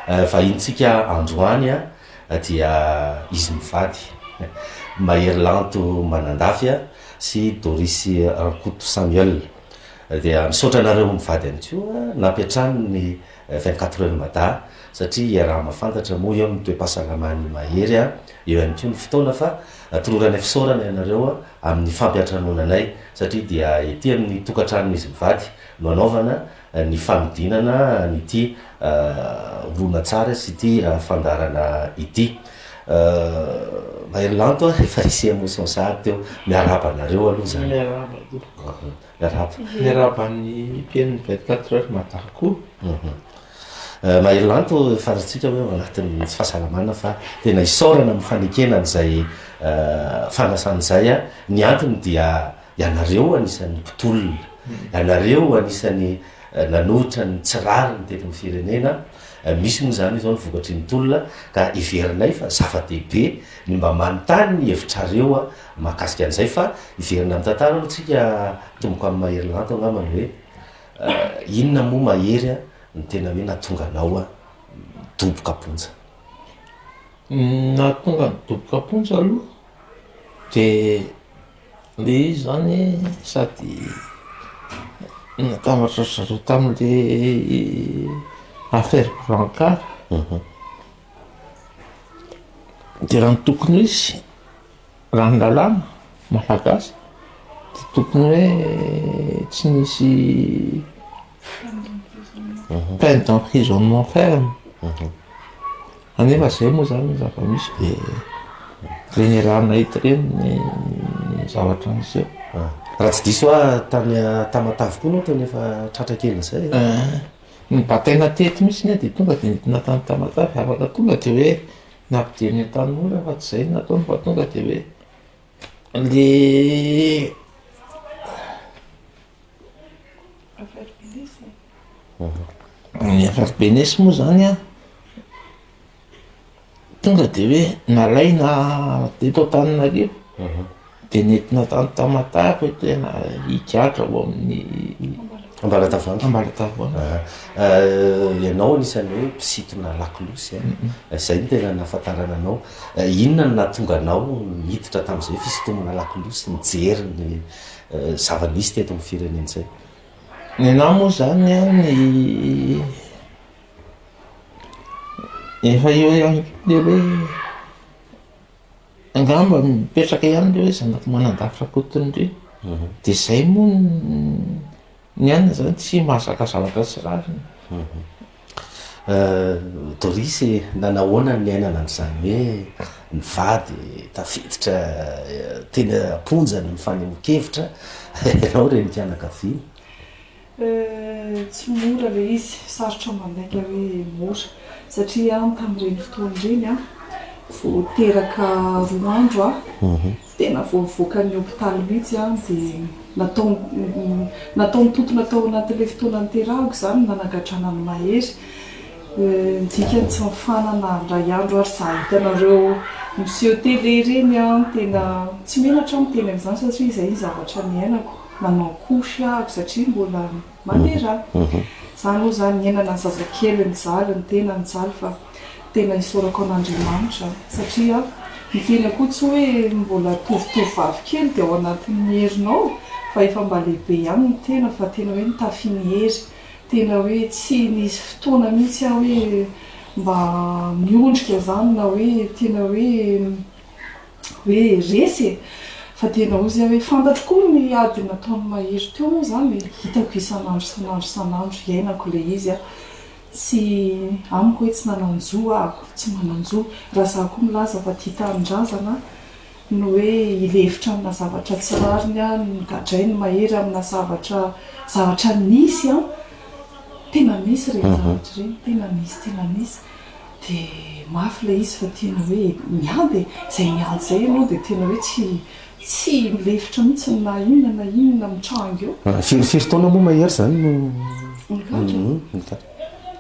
Vahintsika androany dia izy mivady, Mahery Lanto Manandafy sy Doris Rankoto Samuel. Dia misaotra anareo mivady ihany koa nampiantrano ny vingt quatre heures Mada satria iaraha-mahafantatra moa eo ny toe-pahasalaman'i Mahery, eo ihany koa ny fotoana fa toloranay fisaorana ianareo amin'ny fampiantranoana anay satria dia ety amin'ny tokantranon'izy mivady no anaovana ny fanodinana an'ity horonantsary sy ity fandaharana ity. Mahery Lanto a, efa hisy émotion sahady teo. Miarahaba anareo aloha izany. Miarahaba tompoko. Miarahaba. Miarahaba ny mpihaino ny 24 heures Mada koa. Mahery Lanto, fantatsika hoe ao anatin'ny tsy fahasalamana fa tena isaorana amin'ny fanekena an'izay fanasana izay. Ny antony dia. Ianareo anisan'ny mpitolona, ianareo anisan'ny nanohitra ny tsy rariny teto amin'ny firenena, misy moa izany izao ny vokatry ny tolona ka heverinay fa zava-dehibe ny mba manontany ny hevitrareo mahakasika an'izay fa hiverina amin'ny tantara aloha tsika tomboko amin'i Mahery Lanto angamba ny hoe inona moa Mahery a no tena hoe natonga anao nidoboka am-ponja? Ny nahatonga ahy nidoboka am-ponja aloha dia Le izy zany sady natambatra ry zareo tamin'le affaire Brancard, de raha ny tokony ho izy, raha ny lalàna malagasy de tokony hoe tsy nisy peine d'emprisonnement ferme anefa zay moa zany ny zava-misy de reny rana eto reny ny zavatra nisy eo raha tsy diso a tamy tamatavy koa no tena efa tratra kely zay eh, ny bataina teto misy ne de tonga de nidina tany tamatavy afaka tonga de hoe nampidiriny an-tanora fa tsy zay nataony fa tonga de hoe le Ny FFPNS moa zany an, tonga de hoe nalaina teto Antananarivo, de nentina tany Tamatave hoe tena higadra ao amin'ny Ambalatavoahangy. Ambalatavoahangy. Aha. Ianao anisan'ny hoe mpisintona lakolosy an, izay no tena nahafantarana anao. Inona no nahatonga anao hiditra tamin'izay fisintomana lakolosy, nijery ny. zava-nisy teto amin'ny firenentsay. Nenaha moa izany an, efa eo ihany koa ilay hoe angamba mipetraka ihany ilay hoe zanaky Manandafy Rakotonindry, dia izay moa no. Ny anona zany tsy mahazaka zavatra tsy rariny. Doris e, nanahoana ny niainana an'izany hoe nivady tafiditra teny am-ponja ny mifanehoan-kevitra ianao renim-pianakaviana? Tsy mora ilay izy, sarotra mandainga hoe mora satria aho tamin'ireny fotoana ireny vao teraka roa andro aho. Tena voavoakan'ny hopitaly mihitsy aho dia nataony tontona tao anatin'ilay fotoana niterahako izany ny nanagadrana an'i Mahery. Ny dikany tsy mifanana indray andro ary izaho hitanareo miseho télé ireny an! Tena tsy menatra aho miteny an'izany satria izay ny zavatra niainako. Nanao couche aho satria mbola Matera. Zany moa zany niainana ny zazakely mijaly ny tena mijaly fa tena isaorako an'Andriamanitra satria ny tena koa tsy hoe mbola tovotovovavy kely dia ao anatin'ny herinao fa efa mba lehibe ihany ny tena fa tena hoe nitafy ny hery tena hoe tsy nisy fotoana mihitsy aho hoe mba miondrika zany na hoe tena hoe Hoe resy e! Fa dia nahozy aho hoe fantatro koa ny ady nataon'i Mahery teo moa izany e! Hitako isan'andro isan'andro isan'andro, hiainako ilay izy aho. Tsy, amiko hoe tsy nanan-jo aho, tsy manan-jo. Raha izaho koa milaza fa tia tanindrazana no hoe hilefitra amina zavatra tsy rariny aho, ny nogadrain'i Mahery amina zavatra, zavatra nisy an! Tena nisy ireny zavatra ireny, tena nisy, tena nisy. Dia mafy ilay izy fa tena hoe miady e! Izay miady izay ianao dia tena hoe tsy tsy lefitra mihitsy na inona na inona mitranga eo. Firy firy taona moa Mahery izany no nigadra? Nigadra.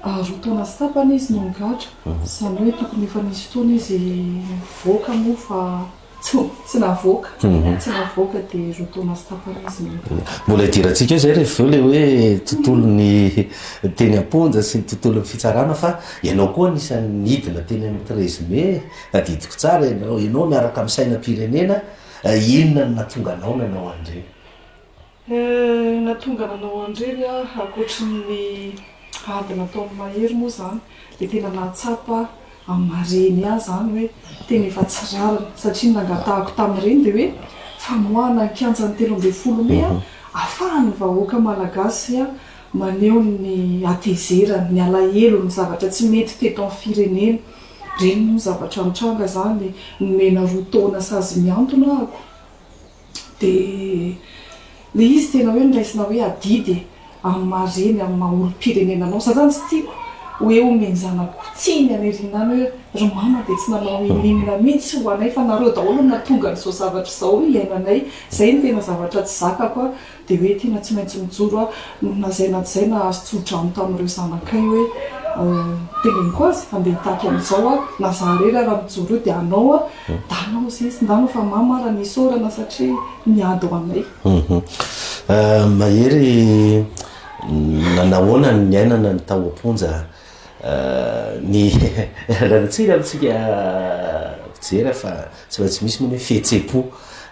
Roa taona sy tapany izy no nigadra. Izany hoe tokony efa nisy fotoana izy nivoaka moa fa. Tsy navoaka, tsy navoaka dia roa taona sy tapany izy no nitaky. Mbola hidirantsika eo izay rehefa avy eo ilay hoe tontolon'ny teny am-ponja sy ny tontolon'ny fitsarana fa ianao koa anisan'ny nidina teny amin'ny treize mai, tadidiko tsara ianao, ianao miaraka amin'ny sainam-pirenena, inona no nahatonga anao nanao an'ireny? Eh, na tonga nanao an'ireny aho ankoatry ny ady nataon'i Mahery moa izany dia tena nahatsapa amin'ny mareny ahy izany hoe tena efa tsy rariny satria ny nangatahako tamin'ireny dia hoe famoahana ny kianjan'ny telo ambin'ny folo mey ahafahan'ny vahoaka malagasy maneho ny hatezerany, ny alahelony, ny zavatra tsy mety teto amin'ny firenena. Ireny moa zavatra nitranga izany, nomena roa taona sazy mihantona aho. Dia ilay izy tena hoe noraisina hoe adidy e, amin'ny maha reny, amin'ny maha olom-pirenena anao. Izaho izany tsy tiako hoe omen-janako tsiny any aoriana any hoe ry mama dia tsy nanao ininona mihitsy ho anay fa nareo daholo no nahatonga an'izao zavatra izao hiainanay. Izay no tena zavatra tsy zakako Dia hoe tena tsy maintsy mijoro aho no nazaina tsy zaina azo tso-drano tamin'ireo zanakay hoe teneniko azy handeha hitaky an'izao aho na za irery ara mijoro eo dia hanao aho da hanao izay izy ndano fa mamo ara ny isaorana satria miady ho anay. Mahery nanahoana ny niainana ny tao am-ponja? Ny Ranintsika amintsika mpijery fa tsy maintsy misy moa ny hoe fihetsem-po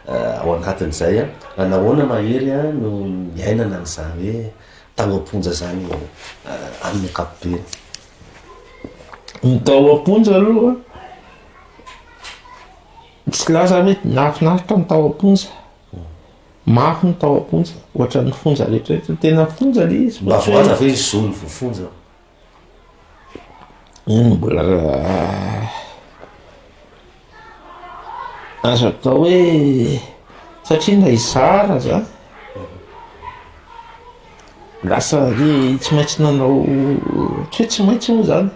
ao anatin'izay. Raha nahoana ma hery no niainana an'izany hoe tao am-ponja izany amin'ny ankapobeny? Ny tao am-ponja aloha, tsy lasa hoe nahafinaritra ny tao am-ponja. Mafy ny tao am-ponja, ohatran'ny fonja rehetra. Tena fonja ilay izy. Mba voaza ve ny zo ny voafonja? Azo atao hoe satria ilay zara zany lasa hoe tsy maintsy nanao tsy hoe tsy maintsy moa zany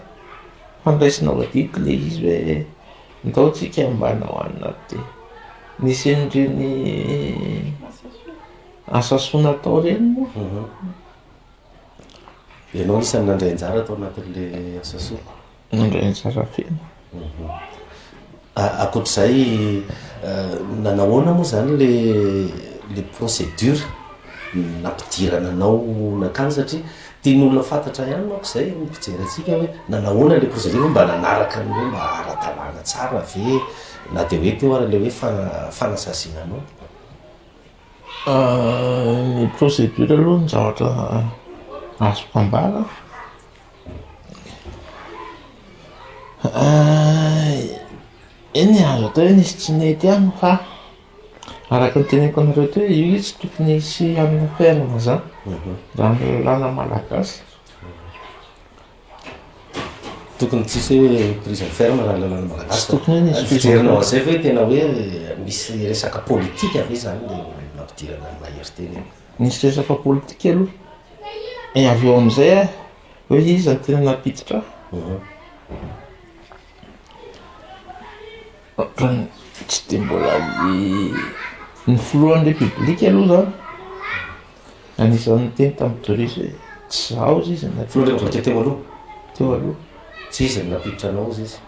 fa niraisina voadidy le izy hoe ndao tsika mba hanao anona ty, nisy an'ireny asa soa natao ireny moa. Ianao isan'ny nandray anjara tao anatin'ilay asa soroko? Nandray anjara feno. Mhm. Akoatr'izay, eh, nanahoana moa izany le le procédure nampidirana anao nankany satria tian'olona fantatra ihany manko izay ny mpijery antsika hoe nanahoana le procédure mba nanaraka ny hoe mba ara-dalàna tsara ve na dia hoe teo ary le hoe fana- fanasaziana anao. Ny procédure aloha ny zavatra azoko ambara eny e, azo atao hoe nisy tsy nety ihany fa araka ny teneniko anareo teo io izy tsy tokony hisy hanina ferme zany raha ny lalàna malagasy. Tokony tsy hisy hoe prison ferme raha lalana malagasy. Tsy tokony hoe hisy prison ferme. Fijerinao an'izay ve tena hoe misy resaka politika ve izany le nampidirana an'i Mahery teny iny? Nisy resaka politika aloha. Et avy eo amin'izay aho hoe iza no tena nampiditra ahy. Tsy dia mbola ny filohan'ny repoblika aloha zah anisan'ny niteny tamin'i Doris hoe tsy zaho ozy izy na filohan'ny repoblika teo aloha teo aloha tsy izy no nampiditra anao ozy izy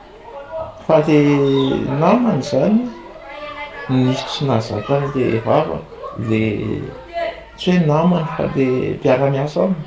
fa le namany zany nisy tsy nahazaka an'le vava le tsy hoe namany fa le mpiara-miasa aminy.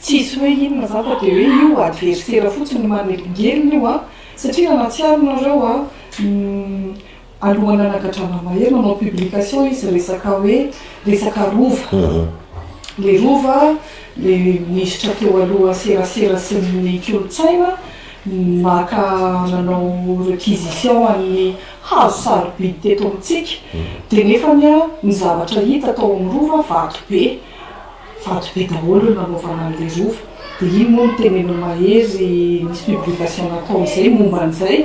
Tsisy hoe inona zany fa dia hoe io adversera fotsiny manelingelina io an, satria raha nahatsiaro nareo an, alohan'ny nanagadrana Mahery nanao publication izy resaka hoe resaka rova, le rova le minisitra teo aloha serasera sy ny kolontsaina maka nanao requisition an'ny hazo sarobidy teto amintsika, dia nefany an ny zavatra hita tao amin'ny rova vato be, Faty be daholo eo nanaovana an'ilay rova dia iny moa no teneno mahery nisy publication natao izay momba an'izay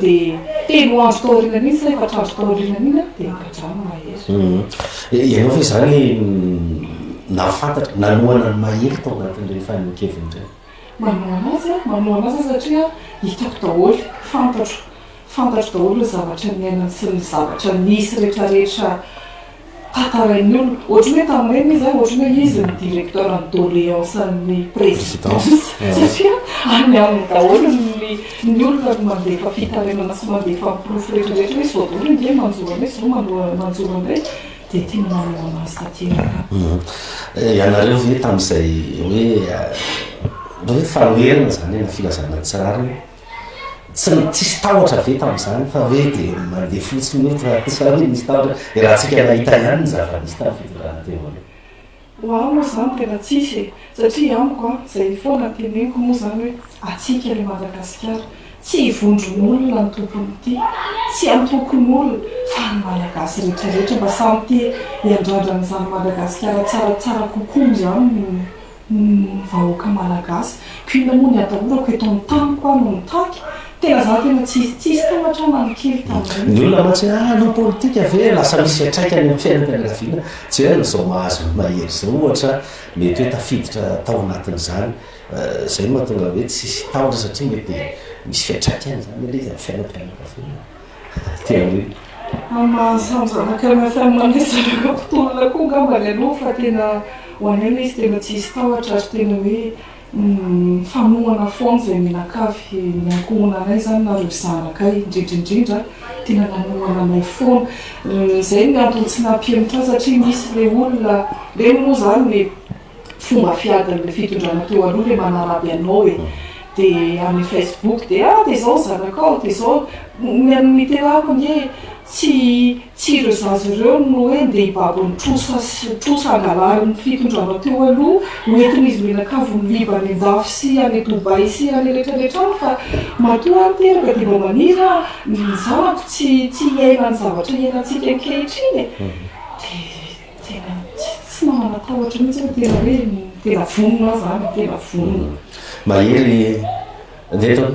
dia telo andro taorianany iny sa efatra andro taorianany iny dia nagadrano mahery. Mhm. Ianao ve izany nahafantatra nanohana ny mahery tao anatin'ireny fanehoan-keviny ireny? Manohana azy aho, manohana azy satria hitako daholo, fantatro, fantatro daholo ny zavatra niainany sy ny zavatra nisy rehetrarehetra. Tantarain'ny olona, ohatran'ny hoe tamin'ireny izy, ohatran'ny hoe izy no directeur ny doléance-n'ny présidence, satria any aminy daholo ny olona no mandefa fitarainana sy mandefa ny porofo rehetrarehetra hoe izao daholo ange manjo anay, izao manjo anay, dia tiany manao an'azy tanteraka. Ianareo ve tamin'izay hoe, hoe fanoherana izany na filazana ny tsy rariny? Tsy tsisy tahotra ve tamin'izany fa hoe dia mandeha fotsiny hoe raha tsy izany dia misy tahotra? Dia raha antsika nahita ihany ny zava-nisy tamin'ny fitondrana teo aloha. Ho ahy moa izany tena tsisy e! Satria amiko an, izay foana teneniko moa izany hoe antsika ilay Madagasikara, tsy vondron'olona ny tompon'ity, tsy antokon'olona fa ny Malagasy rehetrarehetra mba samy te hiandrandra an'izany Madagasikara tsaratsara kokoa izany no. ny vahoaka malagasy. Queen moa ny atahorako eto amin'ny taniko aho no mitaky, tena za tena tsy tsisy tahotra aho na ny kely tamin'ireny. Ny olona mantsy hoe ah hanao politika ve lasa misy fiantraikany amin'ny fiainam-pianakaviana tsy hoe amin'izao mahazo ny mahery izao ohatra mety hoe tafiditra tao anatin'izany izay no mahatonga hoe tsisy tahotra satria mety misy fiantraikany izany anie izy amin'ny fiainam-pianakaviana. Tia hoe. Mama samy zanaka ny family zareo mpitolona koa angamba ny aloha fa tena ho anay ilay izy tena tsy hisy tahotra ary tena hoe mifanohana foana izay mianakavy ny ankohona anay izany na ireo zanakay indrindra indrindra tena nanohana anay foana izay ny antony tsy nampihemotra azy satria misy ilay olona ireny moa izany le fomba fiadin'ilay fitondrana teo aloha ilay manaraby anao e dia amin'ny facebook dia ah dia izao ny zanakao dia izao ny an'ny niterako ange tsy tsy ireo zaza ireo no hoe ndeha hibaby ny trosa sy trosa angalarin'ny fitondrana teo aloha hoentin'izy mianakavy miviva any an-dafy sy any Dubai sy any rehetrarehetra any fa matoa aho niteraka dia mba maniry aho ny zanako tsy tsy hiaina ny zavatra iainantsika ankehitriny e dia Tena tsy mba manatahotra mihitsy aho, tena hoe tena vonona aho zany, tena vonona. Mahery ve ianao?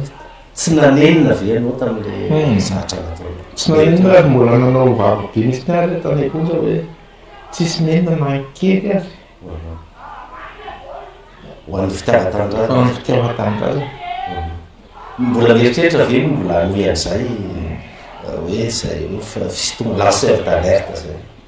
Tsy nanenina ve ianao tamin'ilay zatra nataonao? Tsy nanenina ary mbola nanao vaky be mihitsy ny ahy tany am-ponja hoe tsisy nenina na kely ary. Ho an'ny fitiavan-tanindrazana. Ho an'ny fitiavan-tanindrazana. Mbola mieritreritra ve mbola hanohy an'izay hoe izay hoe fisintomana lanceur d'alerte izay?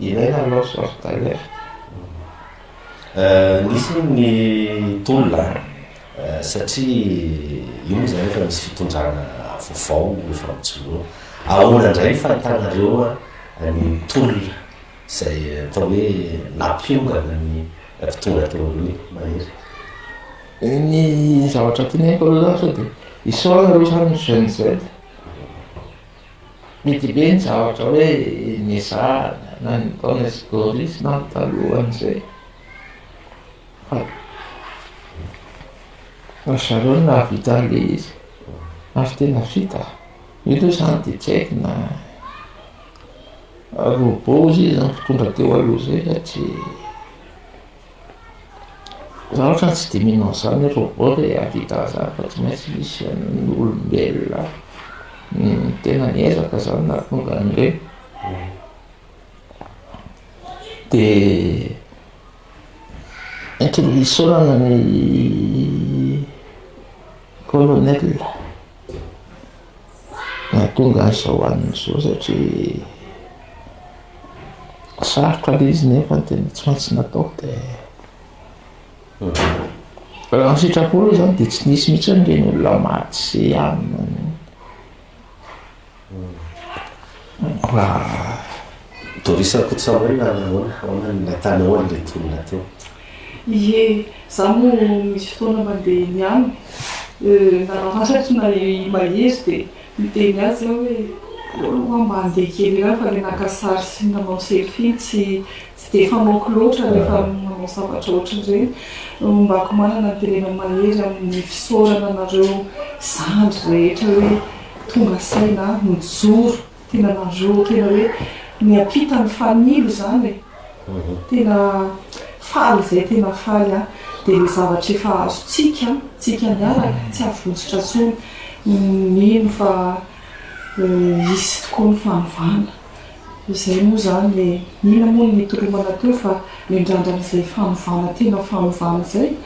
Ilaina ny lanceur d'alerte. Nisy hono ny tolona satria io moa izany efa misy fitondrana vaovao efa mijoroa. Ahoana indray ny fahitanareo ny tolona izay atao hoe nampiongana ny mpitondra teo aloha iny, Mahery? Ny zavatra tianay aloha izany sao dia isaorana aloha izany ny GNZ. Mety be ny zavatra hoe niezahana na ny nataonay sy Doris na ny talohan'izay fa ry zareo no nahavita an'ilay izy ary tena vita. Io aloha izany dia tsy haiko na robot hoy izy izany mpitondra teo aloha izay sa tsia. Raha ohatra ny tsy dinihina an'izany hoe robot ilay hahavita an'izany fa tsy maintsy misy an'ny olombelona tena niezaka izany nahatonga an'ireny. Dia entin'ny isaorana ny colonel. Nahatonga azy izao hanina izao satria sarotra ilay izy nefa ny tena tsy maintsy natao dia raha ny sitrapony aloha izany dia tsy nisy mihitsy ireny olona maty sy hanina ireny. Doris Rakotosamuel ary ahoana ahoana ny nahitanao an'ireto olona teo? Ie, za moa misy fotoana mandeha eny aminy, nanamariko na i Mahery dia niteny azy aho hoe ahoana hoa mba andeha kely ihany fa ilay naka sary sy nanao selfie tsy tsy dia fanaoko loatra rehefa manao zavatra ohatran'ireny, hombako manana ny tenenan'i Mahery amin'ny fisaorana anareo zandry rehetra hoe Tonga saina aho nijoro, tena nareo tena hoe niampita ny fanilo izany e! tena faly izay tena faly aho, dia ilay zavatra efa azontsika tsika niaraka tsy avonjitra intsony, mino fa hisy tokoa ny fanovana, izay moa izany e! inona moa no nitoromana teo fa nindrandrana izay fanovana tena fanovana izay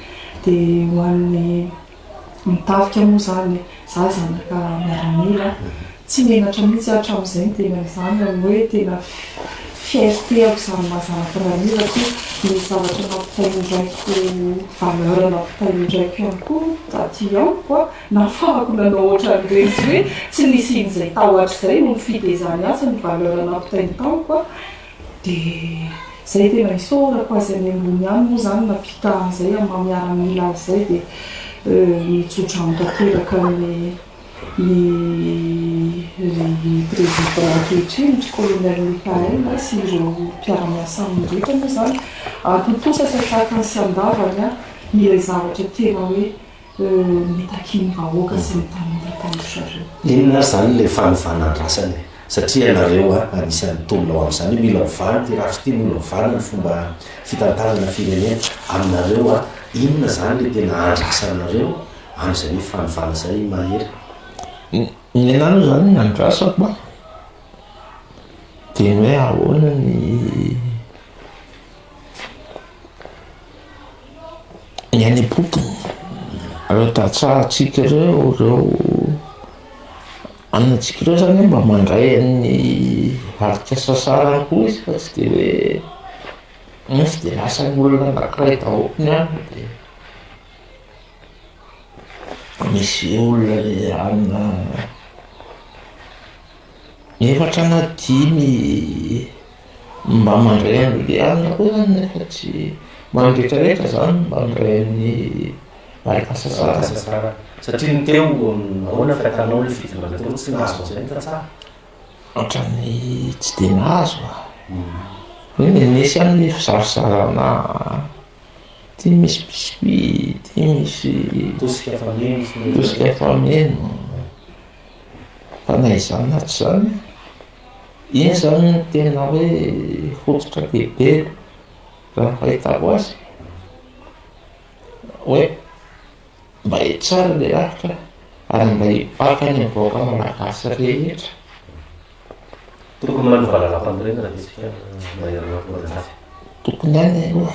dia ho an'ny. Ny tafika moa izany, izaho zanaka miaramila, tsy menatra mihitsy aho hatramin'izay ny tena izany, amin'ny hoe tena fierté-ako izany maha zanaka miaramila koa ny zavatra nampitain'ny raiko, valeur nampitain'ny raiko ihany koa aty amiko, nahafahako nanao ohatran'ireny, tsy hoe tsy nisian'izay tahotra izay no nifidy izany atsy ny valeur nampitainy tamiko. Dia izay dia mba isaorako azy any ambony any moa izany nampita an'izay amin'ny maha miaramila azy izay dia mitsotra amiko tanteraka ny ny ry président ankehitriny ry colonel Michael sy ireo mpiara-miasa aminy rehetra moa izany atontosa sy atraka ny sy andavany aho ilay zavatra tena hoe mitaky ny vahoaka sy ny tanora taloha zareo. Inona ary zany le fanovana andrasana e? Satria ianareo a, anisan'ny mpitomina ao amin'izany hoe mila ovana ity rafitra ity, mila ovana ny fomba fitantanana firenena. Aminareo a, inona zany le tena andrasanareo amin'izay hoe fanovana zay Mahery? Ny anahy aloha zany ny andrasako a, de ny hoe ahoana ny. ny any am-potony, ireo tantsahantsika ireo, ireo anontsika ireo zany mba mandray an'ny atrika sasarany koa izy fa tsy dia hoe iny tsy dia lasan'ny olona anankiray daholo ny any dia misy olona mijanona efatra na dimy. Mba mandray an'i Diana koa zany nefa tsy ho an'ny rehetrarehetra zany mba mandray an'i Baltasasara. Satria ny teo ahoana ny fahitanao ny fitondrana teo tsy nahazo an'izay ny tantsaha? Ohatran'ny tsy dia nahazo ah. Eny e, nisy ihany ny fisarisarana, ity misy biscuits, ity misy Tosika fameno sy ny. tosika fameno. Fa na izany na tsy izany. Iny izany no tena hoe hotsotra be be raha ny fahitako azy, hoe mba hitsara ilay lalitra ary mba hibaka ny vahoaka malagasy rehetra. Tokony manova lalàmpanorenana ve isika mahery an'Ambohimanjaka? Tokony ihany aloha.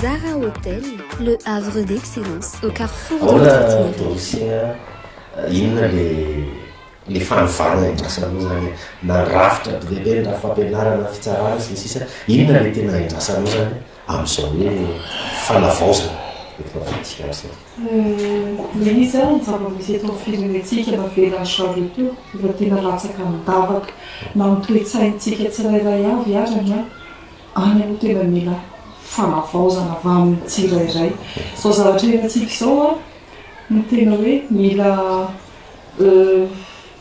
Zara Hotel, le havre d'excellence au carrefour de notre itinéraire. Ahoana no dosea, inona ilay fanovana iandrasana anao izany e? Na rafitra be dia be ny rafim-pampianarana, fitsarana sy ny sisa, inona ilay tena iandrasana anao izany e? amin'izao hoe fanavaozana eto Madagasikara izao? Ny izy ary ny zava-misy eto amin'ny firenentsika navelan'i Charles teo efa tena latsaka nidavaka na ny toe-tsaintsika tsirairay avy azany any aloha tena mila fanavaozana avy amin'ny tsirairay. Izao zavatra iainantsika izao no tena hoe mila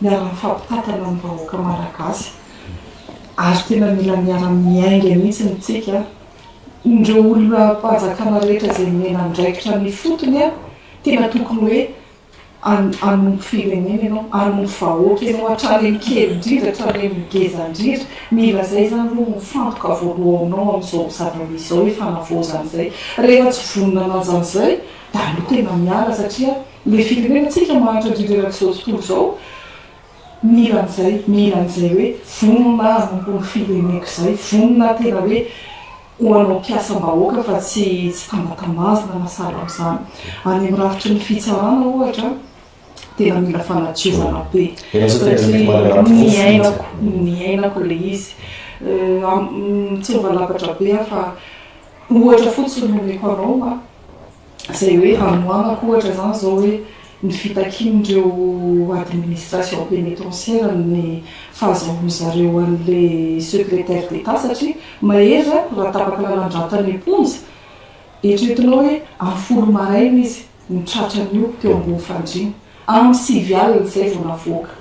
miara-mifampitantana ny vahoaka Malagasy ary tena mila miara-miainga mihitsy ny tsika ireo olom-panjakana rehetra izay nomena andraikitra ny ifotony a! tena tokony hoe hanompo firenena ianao, hanompo vahoaka ianao hatrany amin'ny kely indrindra hatrany amin'ny ngeza indrindra, mila izay izany aloha no fantoka voalohanao amin'izao zava-misy izao hifanavaozana izay, rehefa tsy vonona manao an'izany izay dia aleo tena miala satria Ilay firenenantsika mahantra indrindra erak'izao tontolo izao mila an'izay, mila an'izay hoe vonona hanompo ny fireneko izay, vonona tena hoe ho hanao mpiasam-bahoaka fa tsy tsy tambatambazina na sahala amin'izany. Any amin'ny rafitry ny fitsarana ohatra tena mila fanadiovana be. Ianao izao tena mety manana porofo mihitsy. Niainako, niainako ilay izy. Tsy ho valabatra be aho fa ohatra fotsiny no omeko anao an. izay hoe hanohanako ohatra izany izao hoe ny fitakian'ireo administration pénitentiaire ny fahazahoan-dry zareo an'ilay secrétaire d'Etat satria mahery raha raha tapaka lalandratany am-ponja, eritreretinao hoe amin'ny folo maraina izy no tratran'io teo ambony fandriana, amin'ny sivy alina izay vao navoaka.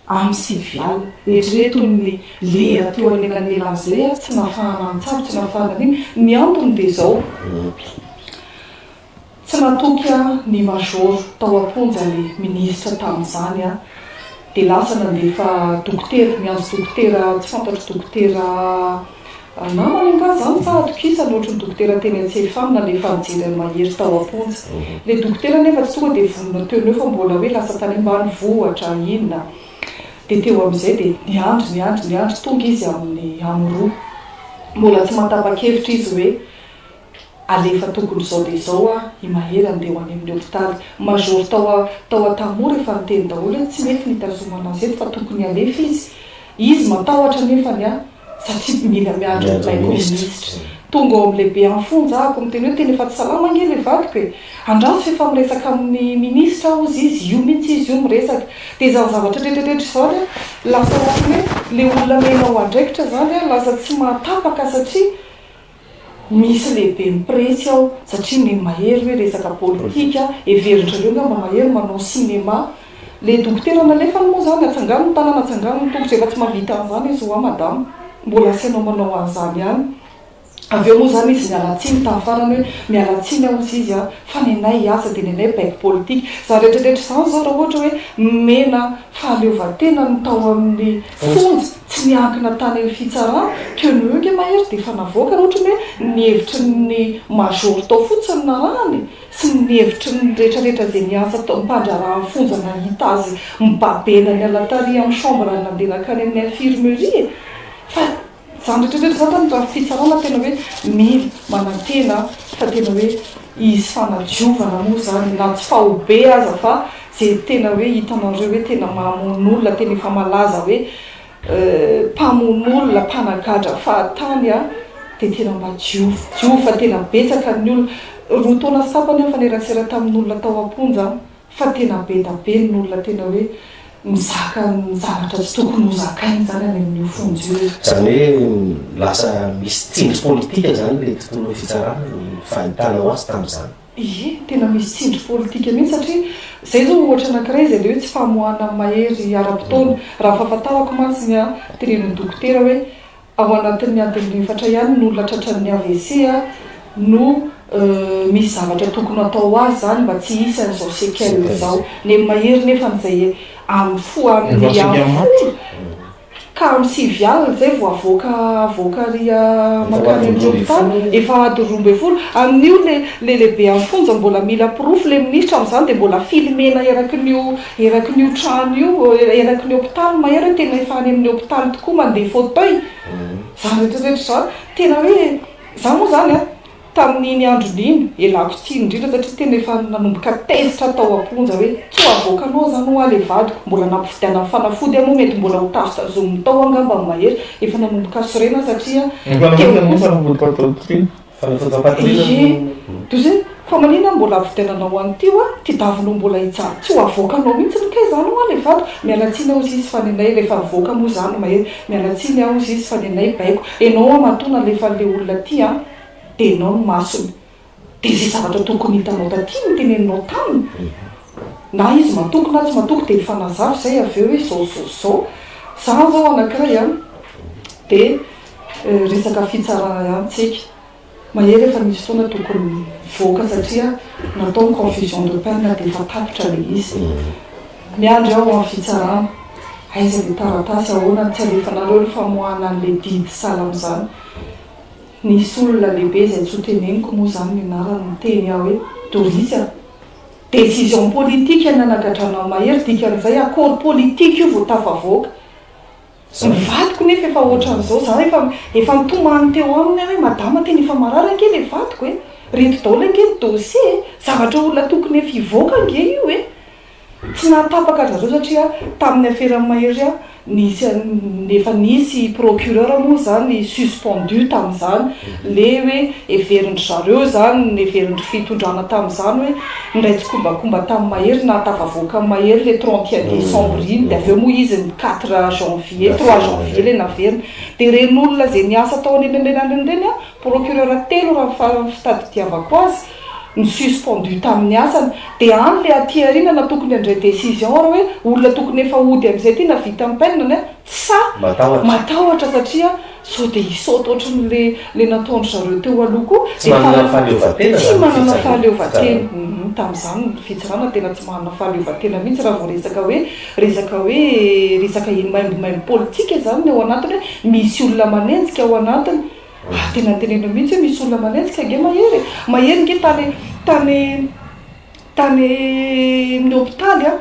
Amin'ny sivy alina. Eritrereto ny lera teo anelanelan'izay ary tsy nafahana nitsabo, tsy nafahana nino. Ny antony dia izao, tsy natoky aho ny major tao am-ponja le minisitra tamin'izany aho, dia lasa nandefa dokotera, miantso dokotera tsy fantatro dokotera, Ry namana angaha zany sa atokisana ohatry ny dokotera teny an-tsefam nalefa nijery an'i Mahery tao am-ponja. Ilay dokotera anefa tsy tonga dia vonona teo no eo fa mbola hoe lasa tany ambany vohitra inona dia teo amin'izay dia niandry niandry niandry tonga izy amin'ny amin'ny roa. Mbola tsy mahatapa-kevitra izy hoe Alefa tokony izao dia izao ah i Mahery andeha ho any amin'ny hopitaly. Major tao a tao a tamoha rehefa niteny daholo hoe tsy mety ny hitazomana azy eto fa tokony alefa izy. Izy matahotra nefany a satria mila miandry ny Michael Minisitra. Tonga ao amin'ny lehibe any fonja ahako miteny hoe tena efa tsy salama ange ilay vadiko e. Andraso efa miresaka amin'ny Minisitra aho hozy izy, io mihintsy izy io miresaka. Dia izany zavatra tretretrretra izany a lasa ohatran'ny hoe ilay olona mena ho andraikitra izany a lasa tsy mahatapaka satria. Misy lehiben'ny pressy ao satria ny mahery hoe resaka politika heverin'zareo ngamba mahery manao cinéma. Le dokotera nalefany moa zany atsangano ny tanana atsangano ny tongotra efa tsy mahavita an'zany izy ho'a madama. Mbola asianao manao an'zany ihany. Avy eo moa zany izy niala tsiny tamin'ny farany hoe miala tsiny aho hozy izy a fa ny anay hiasa dia ny anay baiko politika. Zany retraretra zany zao raha ohatra hoe nomena fahaleovantena ny tao amin'ny. Fonja, tsy niankina tany amin'ny fitsarana, que ny huge mahery dia efa navoaka raha ohatry ny hoe ny hevitry ny major tao fotsiny no narahana e! Sy ny hevitry ny rehetra rehetra izay niantsa tao am-pandraharahan'i Fonja nahita azy mibabe naniala tary amin'ny chambre ary nandeha nankany amin'ny infirmerie e! Fa. Izany rehetra rehetra izany tena raha fitsarana tena hoe mila manantena fa tena hoe hisy fanadiovana moa izany na tsy faobe aza fa izay tena hoe hitanareo hoe tena mamono olona tena efa malaza hoe mpamono olona mpanagadra fahatany a dia tena mba diovy diovy fa tena betsaka ny olona roa taona sy tapany aho nifanerasera tamin'ny olona tao am-ponja Fa tena be da be ny olona tena hoe mizaka ny zavatra tsy tokony ho zakaina izany any amin' io fonja io e. Izany hoe lasa misy tsindry politika izany ilay tontolon'ny fitsarana ny fahitànao azy tamin'izany? Ie, tena misy tsindry politika mihitsy satria izay izao ohatra anankiray izay le hoe tsy famoahana ny mahery ara-potoana. Raha ny fahafantarako mantsy ny ahy, tenenin'ny dokotera hoe Ao anatin'ny adiny efatra ihany ny olona tratran'ny avc no misy zavatra tokony hatao ho azy izany mba tsy hisy an'izao séquelles izao. Ny amin'ny mahery nefa izay amin'ny fo any amin'ny folo ka amin'ny sivy alina izay vao avoaka avoaka ary mankany amin'ny hopitaly efa ady roa ambin'ny folo. Amin'io ilay lehibe amin'ny fonja mbola mila porofo ilay minisitra amin'izany dia mbola filmer-na eraky ny Eraky ny io trano io, eraky ny hopitaly, mahery hoe tena efa any amin'ny hopitaly tokoa, mandeha fauteuil, izany rehetra rehetra izany, tena hoe, izaho moa izany an, tamin'iny androny iny, elako tsiny indrindra satria tena efa nanomboka tezitra aho tao am-ponja hoe tsy ho avoakanao izany ho'a ilay vadiko, mbola nampifidianan'ny fanafody aho moa mety mbola ho tafy sazoniny tao angamba ny mahery, efa nanomboka sorena aho satria teo kosa. DG, DG, fa manina aho mbola avidenanao an'ity hoa, ty davinao mbola hijaly tsy ho avoakanao mihitsy ny kay zany hoa le vato, mialatsiny aho ziz fa nenay refa avoaka moa zany mahery, mialatsiny aho ziz fa nenay baiko, enao hoa matoa nalefany le olona ty an, de enao no masony, de ze zavatra tokony hitanao taty no teneninao taminy, na izy matoky na tsy matoky de mifanazava izay avy eo hoe zao zao zao, zany zao anakiray an, de. resaka fitsarana ihany tsika. Mahery efa nisy fotoana tokony nivoaka satria natao ny confusion de peine dia efa tapitra ilay izy. Miandry aho amin'ny fitsarana. Aiza ilay taratasy, ahoana no tsy alefanareo ny famoahana an'ilay didy salam izany. Nisy olona lehibe izay tsy ho teneniko moa izany ny anarany niteny aho hoe Doris a! Décision politique ny nanagadranao Mahery, dikan'izay accord politique io vao tafavoaka. Tsy ny vadiko nefa efa ohatran'izao, za efa efa nitomany teo aminy aho hoe madama tena efa marary ange le vadiko e! reto daholo ange ny dossier e! zavatra olona tokony efa hivoaka ange io e! tsy nahatapaka an-dry zareo satria tamin'ny aferan'i Mahery aho nisy an'i efa nisy procureur moa izany suspendu tamin'izany le hoe heverin-dry zareo izany, heverin-dry fitondrana tamin'izany hoe Indray tsikombakomba tamin'ny mahery na tafavoaka amin'ny mahery ilay trente et un décembre iny dia avy eo moa izy ny quatre janvier, trois janvier ilay naverina. Dia ireny olona izay niasa tao anelanelan'ireny ireny an, procureur telo raha ny faran'ny fitadidiavako azy no suspendu tamin'ny asany. Dia any ilay aty aoriana na tokony handray décision ary hoe olona tokony efa hody amin'izay ity na vita ny peine-ny an, sa matahotra satria Sao dia hisaoty ohatran'ilay ilay nataon-dry zareo teo aloha koa? Tsy manana fahaleovantena izany ny fitsarana. Tsy manana fahaleovantena. Humm, tamin'izany ny fitsarana tena tsy manana fahaleovantena mihitsy raha vao resaka hoe, resaka hoe, resaka hoe maimbomaimbo politika izany ny ao anatiny hoe misy olona manenjika ao anatiny. Ary tena notenenina mihitsy hoe misy olona manenjika ange Mahery e! Mahery ange tany, tany, tany amin'ny hopitaly an!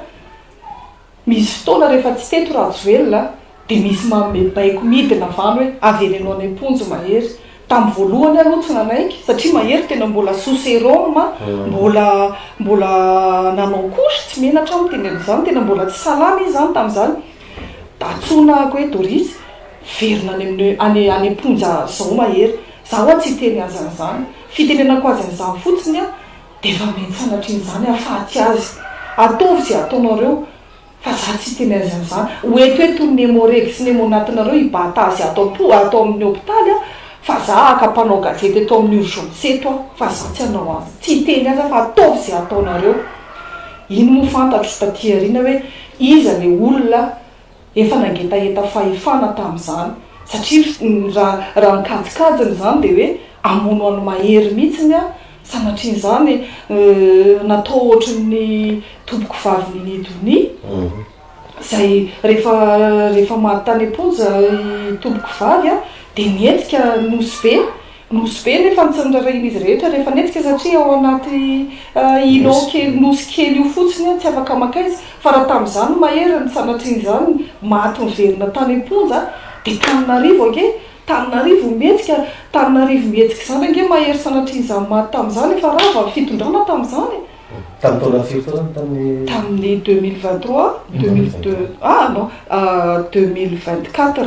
Misy fotoana rehefa tsy teto Rajoelina dia misy manome baiko midina avy any hoe avereno any am-ponja Mahery. Tamin'ny voalohany aho aloha tsy nanaiky satria Mahery tena mbola sous serum, mbola mbola nanao couche tsy menatra aho miteny an'izany, tena mbola tsy salama izy izany tamin'izany. Antsoina aho hoe Doris, verina any amin'ny any any am-ponja izao Mahery. Izaho ho'a tsy hiteny azy an'izany. Fitenenako azy an'izany fotsiny aho. Dia vambeny sanatrian'izany afatsy azy. Ataovy izay ataonareo fa za tsy hiteny azy amin'izany. Ho eto eto ny Nemo Reg sy Nemo Natinareo hibata azy ato am-po ato amin'ny hopitaly aho fa za haka mpanao gazety eto amin'ny urgence eto aho fa za tsy hanao azy tsy hiteny azy aho fa ataovy izay ataonareo. Iny moa fantatro taty aoriana hoe iza le olona Efa nangetaheta fahefana tamin'izany satria raha ny kajikajiny izany dia hoe hamono an'i Mahery mihitsiny aho sanatrian'izany natao ohatran'ny tompoko vavin'i Nidonia izay rehefa rehefa maty tany am-ponja i tompoko vavy dia nihetsika Nosy Be Nosy be nefa ny tsy nirarahian'izy rehetra rehefa netsika satria ao anaty ilon kely nosy kely io fotsiny aho tsy afaka makaiza fa raha tamin'izany mahery ny sanatria izany maty miverina tany amponja dia taninarivo ange taninarivo mihetsika taninarivo mihetsika izany ange mahery sanatria izany maty tamin'izany efa rava ny fitondrana tamin'izany e tamin'ny taona firy taona no tamin'ny tamin'ny deux mille vingt trois deux mille deux ah non deux mille vingt quatre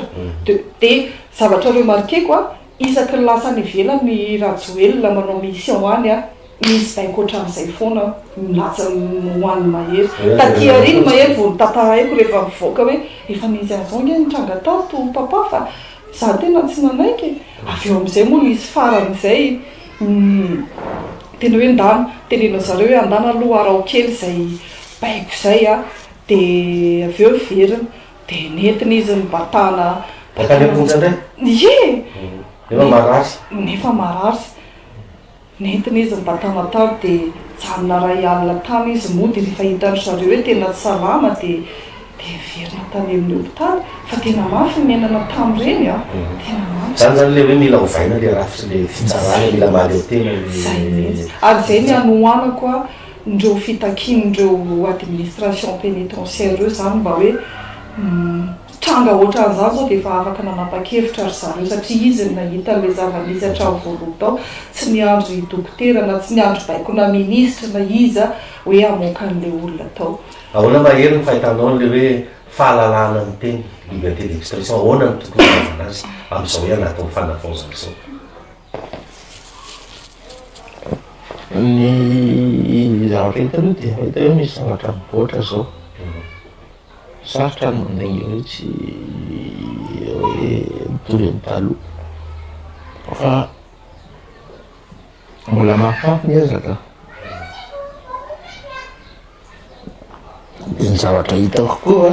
dia zavatra remarqueko a Isaky ny lasa any ivelany i Rajoelina manao mission any an, misy baiko ohatran'izay foana an, milaza ho an'ny Mahery. Taty aoriana i Mahery vao notantaraiko rehefa nivoaka hoe efa nisy an'izao ange nitranga tato Papa fa izaho tena tsy nanaiky e! Avy eo amin'izay moa nisy faran'izay ny tena hoe ndana, teneno zareo hoe andana aloha araho kely izay baiko izay an, dia avy eo niverina. Dia nentina izy nibatana. Nankany am-ponja indray? Ie! Nefa marary? Nefa marary. Nentina izy nibatana tany dia nijanona iray alina tany izy moa dia rehefa hitan-dry zareo hoe tena tsy salama dia dia niverina tany amin'ny hopitaly. Fa tena mafy ny niainana tamin'ireny an! Tena mafy. Izany izany ilay hoe mila ovaina ilay rafitry ilay fitsarana, mila mahaleo tena ilay. Izay mihitsy. Ary izay ny hanohanako an! ireo fitakian'ireo administration penitentiaire ireo izany mba hoe tranga ohatran'izany izao dia efa afaka nanapa-kevitra ry zareo satria izy no nahita an'ilay zava-nisy hatramin'ny voalohany tao, tsy niandry dokotera na tsy niandry baikona minisitra na iza hoe hamoaka an'ilay olona tao. Ahoana ma hery ny fahitanao an'ilay hoe fahalalahana miteny, liberté d'expression, ahoana no tokony hanaovana azy amin'izao hoe anatiny fanavaozana izao? Ny zavatra hita aloha dia hita hoe misy zavatra mivoatra izao. Sarotra ny mandainga an'io tsy hoe mitovy amin'ny taloha. Fa mbola mahafafy ny ezaka. Dia ny zavatra hitako koa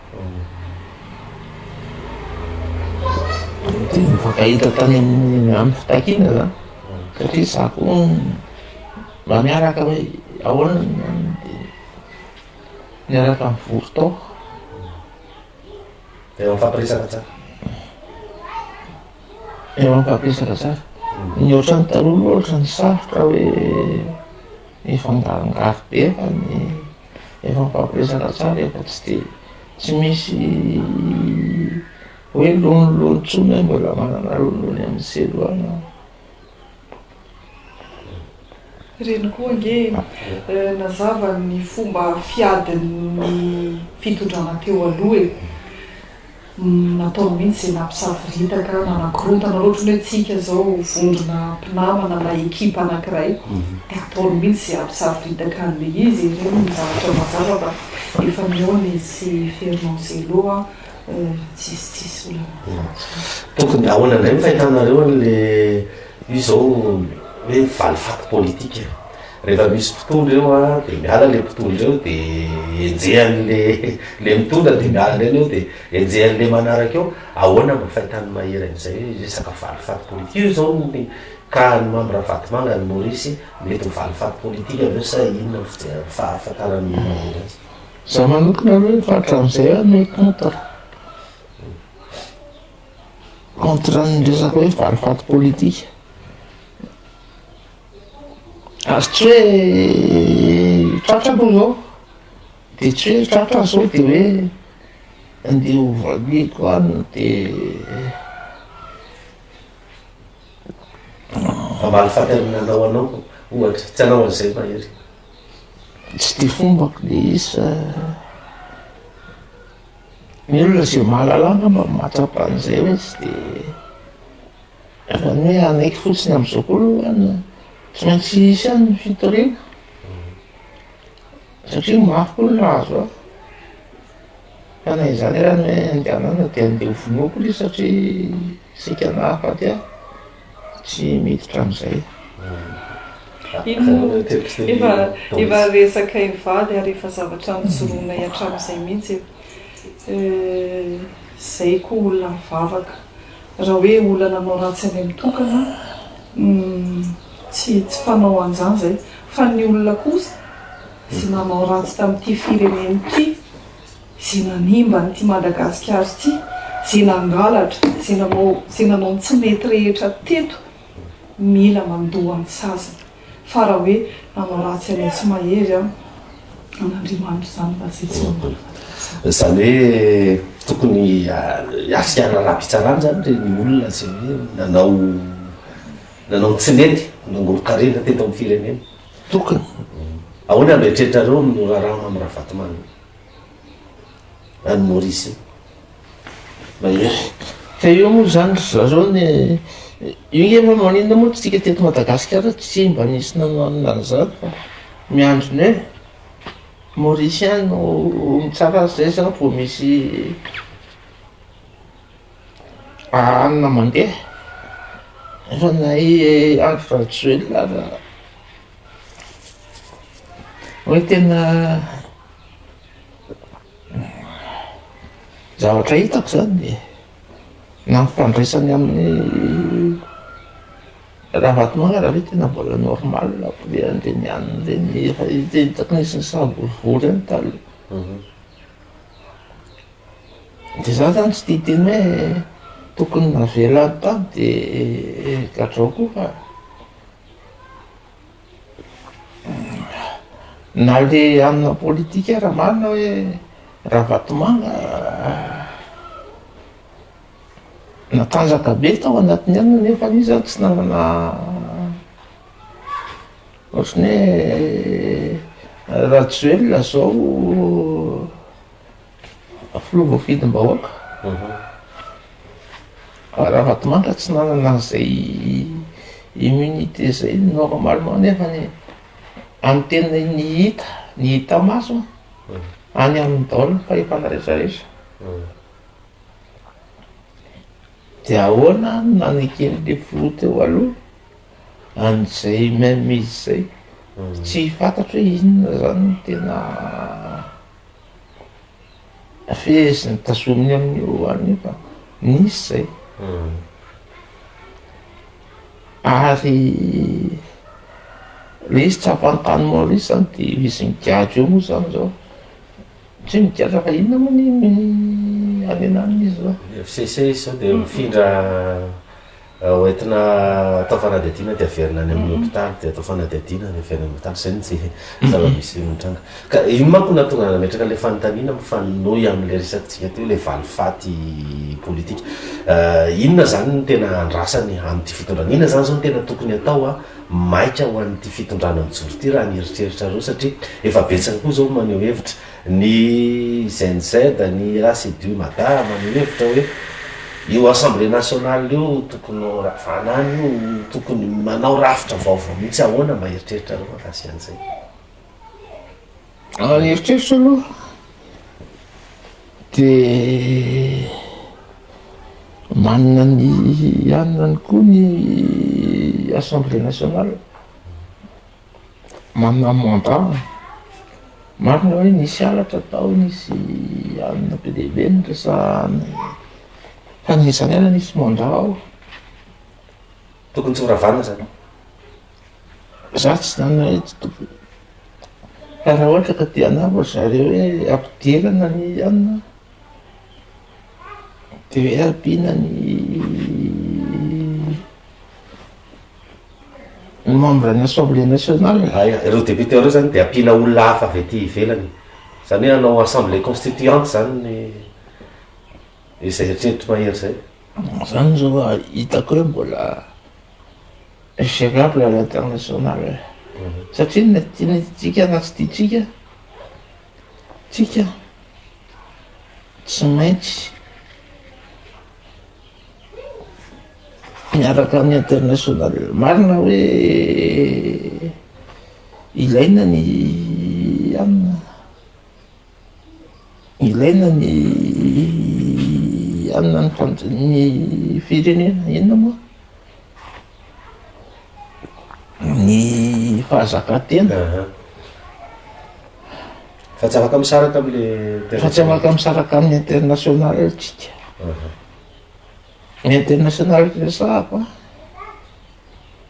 Nifankahita tany amin'ny amin'ny fitakiana za satria za koa mba miaraka hoe ahoana ny any de niaraka nivory tao. Eo am'fampiresaka tsara. Eo am'fampiresaka tsara. Ny ohatran'ny taloha aloha ohatran'ny sarotra hoe mifangarongaro be fa ny efa mifampirezaka tsara efa tsy de tsy misy hoe lonilony tsony hoe mbola manana lonilony amin'ny selo any aho Reny koa ange eh, nazava ny fomba fiadin'ny fitondrana teo aloha e. Natao mihitsy izay nampisavoritaka, nanakorontana loatra ny hoe tsika izao vondrona mpinamana na ekipa anankiray dia ataony mihitsy izay hampisavoritaka an'ilay izy, ireny no zavatra mazava fa efa nihaona izy sy Fernand Zelo a, raha tsisy tsisy olana hafa. Tokony ahoana indray ny fahitanareo an'ilay izy izao hoe valifaty politika? Rehefa misy mpitondra eo a dia miala le mpitondra eo de enjehan'ny le le mitondra de miala indray ny eo de enjehan'ny le manaraka eo, ahoana mba fahitany mahery an'izay hoe resaka valifaty politika io izao no nikahan'i Mamy Ravatomanga any Maorisy mety ho valifaty politika ve sa inona ny fijerany fahafantarany ny mahery azy? Za manokana aloha efa hatramin'izay aho mey contre contre ny resaka hoe valifaty politika. Ary tsy hoe tratra aloha izao, dia tsy hoe tratra ary sao dia hoe andeha ho valiako any dia hamaly faty amin'ny nanao anao ohatra, tsy hanao an'izay mahery. Tsy dia fombako ilay izy fa ny olona izay mahalala angamba no mahatsapa an'izay hoe tsy dia Izany hoe hanaiky fotsiny amin'izao koa aloha an, tsy maintsy hisy ihany ny fitoriana satria mafy koa ny nahazo ahy fa na izany ary ny hoe andehanana dia andeha hovonoiko ilay izy satria saika nahafaty ahy, tsy miditra amin'izay. Iny efa efa resaka hivady ary efa zavatra nojoronay hatramin'izay mihitsy e, eh, izay koa olona mivavaka. Raha hoe olana anao ratsy any am tokana humm tsy tsy fanao anzany zay fa ny olona kosa ze nanao ratsy tamty firenena ty ze nanimba anty Madagasikara ty ze nangalatra ze nanao ze nanao ny tsy mety rehetra teto mila mandoa ny saziny fa raha hoe nanao ratsy anay tsy mahery an an'Andriamanitra izany mba tsy tsy manana fahatakazana. Izany hoe tokony hiafiana ara-pitsarana izany re ny olona izay hoe nanao nanao ny tsy nety, nangoron-karena teto amin'ny firenena. Tokony. Ahoana no eritreritranareo amin'io raharaha Mamy Ravatomamy io? any Maurice any. Mahery. Ka eo moa izany ry zareo ny io nge hoe maninona moa tsika teto Madagasikara tsy mba nisy nananona an'izany fa miandry ny hoe Maurice ihany no ho mitsara azy izay izany vao misy hanina mandeha. Efa na i Andry Rajoelina aza hoe tena zavatra hitako zany na ny fandraisany amin'ny Ravatomanga ve tena mbola normal ve andeha ny any ve ny efa hitako nisy nisavorovoro eny taloha mhm. de za zany tsy tia teny hoe tokony navelany tany de gadrao koa fa Na le amina politika ara marina hoe Ravatomanga natanjaka be tao anatiny any nefa izy zany tsy nanana ohatrany hoe Rajoelina zao Filoha voafidim-bahoaka Ravatomanga tsy nanana an'izay immunité zay normalement nefany e! Amin'ny tena ny hita, ny hita maso any amin'ny daholo ny fahefana rehetra rehetra de ahoana no naneken'le filoha teo aloha an'izay même izy zay? Tsy fantatro hoe inona zany no tena Feheziny tazominy amin'ny lohany io fa nisy zay. Ary le izy tsy ampahany tany Maurice zany de izy migadra eo moa zany zao, tsy hoe migadra fa inona moa ny hanenan'izy zao. FCC izy sao de mifindra Ho entina atao fanadihadiana dia averina any amin'ny hopitaly dia atao fanadihadiana avy any amin'ny hopitaly. Izay no tsy zava-misy mitranga. Ka iny manko nahatonga ahy nametraka ilay fanontaniana mifanohy amin'ilay resakantsika teo, ilay valifaty politika. Inona izany no tena andrasany amin'ity fitondrana, inona izany izao no tena tokony atao maika ho an'ity fitondrana mijoro ity raha ny eritreritrareo satria efa betsaka koa izao no maneho hevitra. Ny Gen Z, ny Racedu Mada maneho hevitra hoe io Assemblée Nationale io tokony ho ravana any io, tokony manao rafitra vaovao mihitsy. Ahoana mba eritreritrareo mahakasika an'izay? Raha ny eritreritra aloha de manana ny anona any koa ny Assemblée Nationale. Manana mandat an! Marina hoe nisy halatra tao, nisy alina be dia be niresahana e! Fa ny izany ary nisy mandat ao. Tokony tsy ho ravana izany an! Za tsy izany hoe tsy tokony, fa raha ohatra ka te hanova ry zareo hoe ampidirana ny alina dia hoe ampiana ny. Ny membre ny assemblée nationale, ireo députés ireo zany dia ampiana olona hafa avy aty ivelany, zany hoe hanao assemblée constituante zany ny izay eritreritry Mahery zay. Zany zao a hitako hoe mbola gérable à l'international e, satria na tiantsika na tsy tiantsika tsika tsy maintsy. Miaraka amin'ny international. Marina hoe ilaina ny anona, ilaina ny anona ny fanja- ny firenena, inona moa? Ny fahazakantena. Aha. Fa tsy afaka misaraka amin'ilay Fa tsy international. afaka misaraka amin'ny international tsika. Aha. International usa ako a,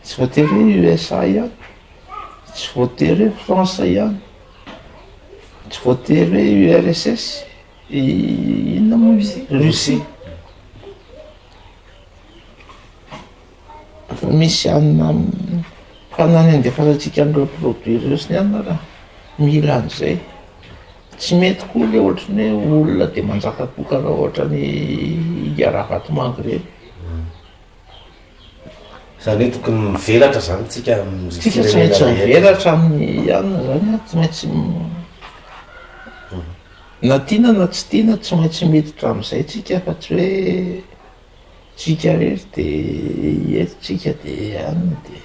tsy voatery hoe usa ihany, tsy voatery hoe france ihany, tsy voatery hoe urss inona moa izy russie. Efa misy hanina hanina handefanantsika an'ireo produit ireo sy ny hanina ra mila an'izay. Tsy mety koa le ohatran'ny hoe olona de manjaka tokana ohatran'ny India Ravatomanga ireny. Zany hoe tokony mivelatra zany tsika amin'ny Tsika tsy maintsy firenena rehetra. mivelatra amin'ny hanina zany a, tsy maintsy na tiana na tsy tiana tsy maintsy miditra am'izay tsika fa tsy hoe. Tsika irery de eto tsika de any de.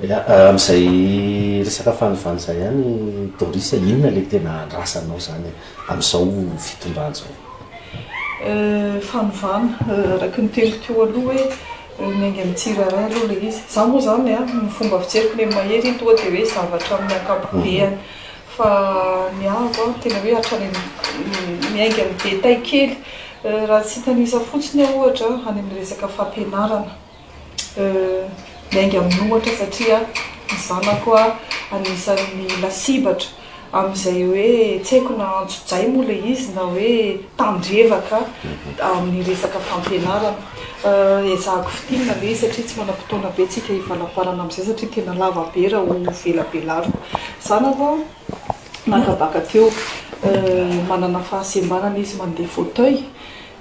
Ya, amin'izay resaka fanovana izay ihany Doris a, inona ilay tena andrasanao izany amin'izao fitondrana izao? Fanovana, araka ny teniko teo aloha hoe miainga amin'ny tsirairay aloha ilay izy. Izaho moa izany a, ny fomba fijeriky ny an'i Mahery iny tonga dia hoe zavatra amin'ny ankapobeny. Fa ny ahy aloha tena hoe hatrany miainga amin'ny be tay kely. Raha tsy hitanisa fotsiny aho ohatra any amin'ny resaka fampianarana, miainga amin'ohatra satria ny zanako anisan'ny lasibatra amin'izay hoe tsy haiko na antsojay moa ilay izy na hoe tandrevaka amin'ny resaka fampianarana. Ezahako fintinina aloha izy satria tsy manam-potoana be tsika hivalampalana amin'izay satria tena lava be raha ho velabelariko. Zany aloha nakabaka teo manana fahasembanana izy mandeha fauteuil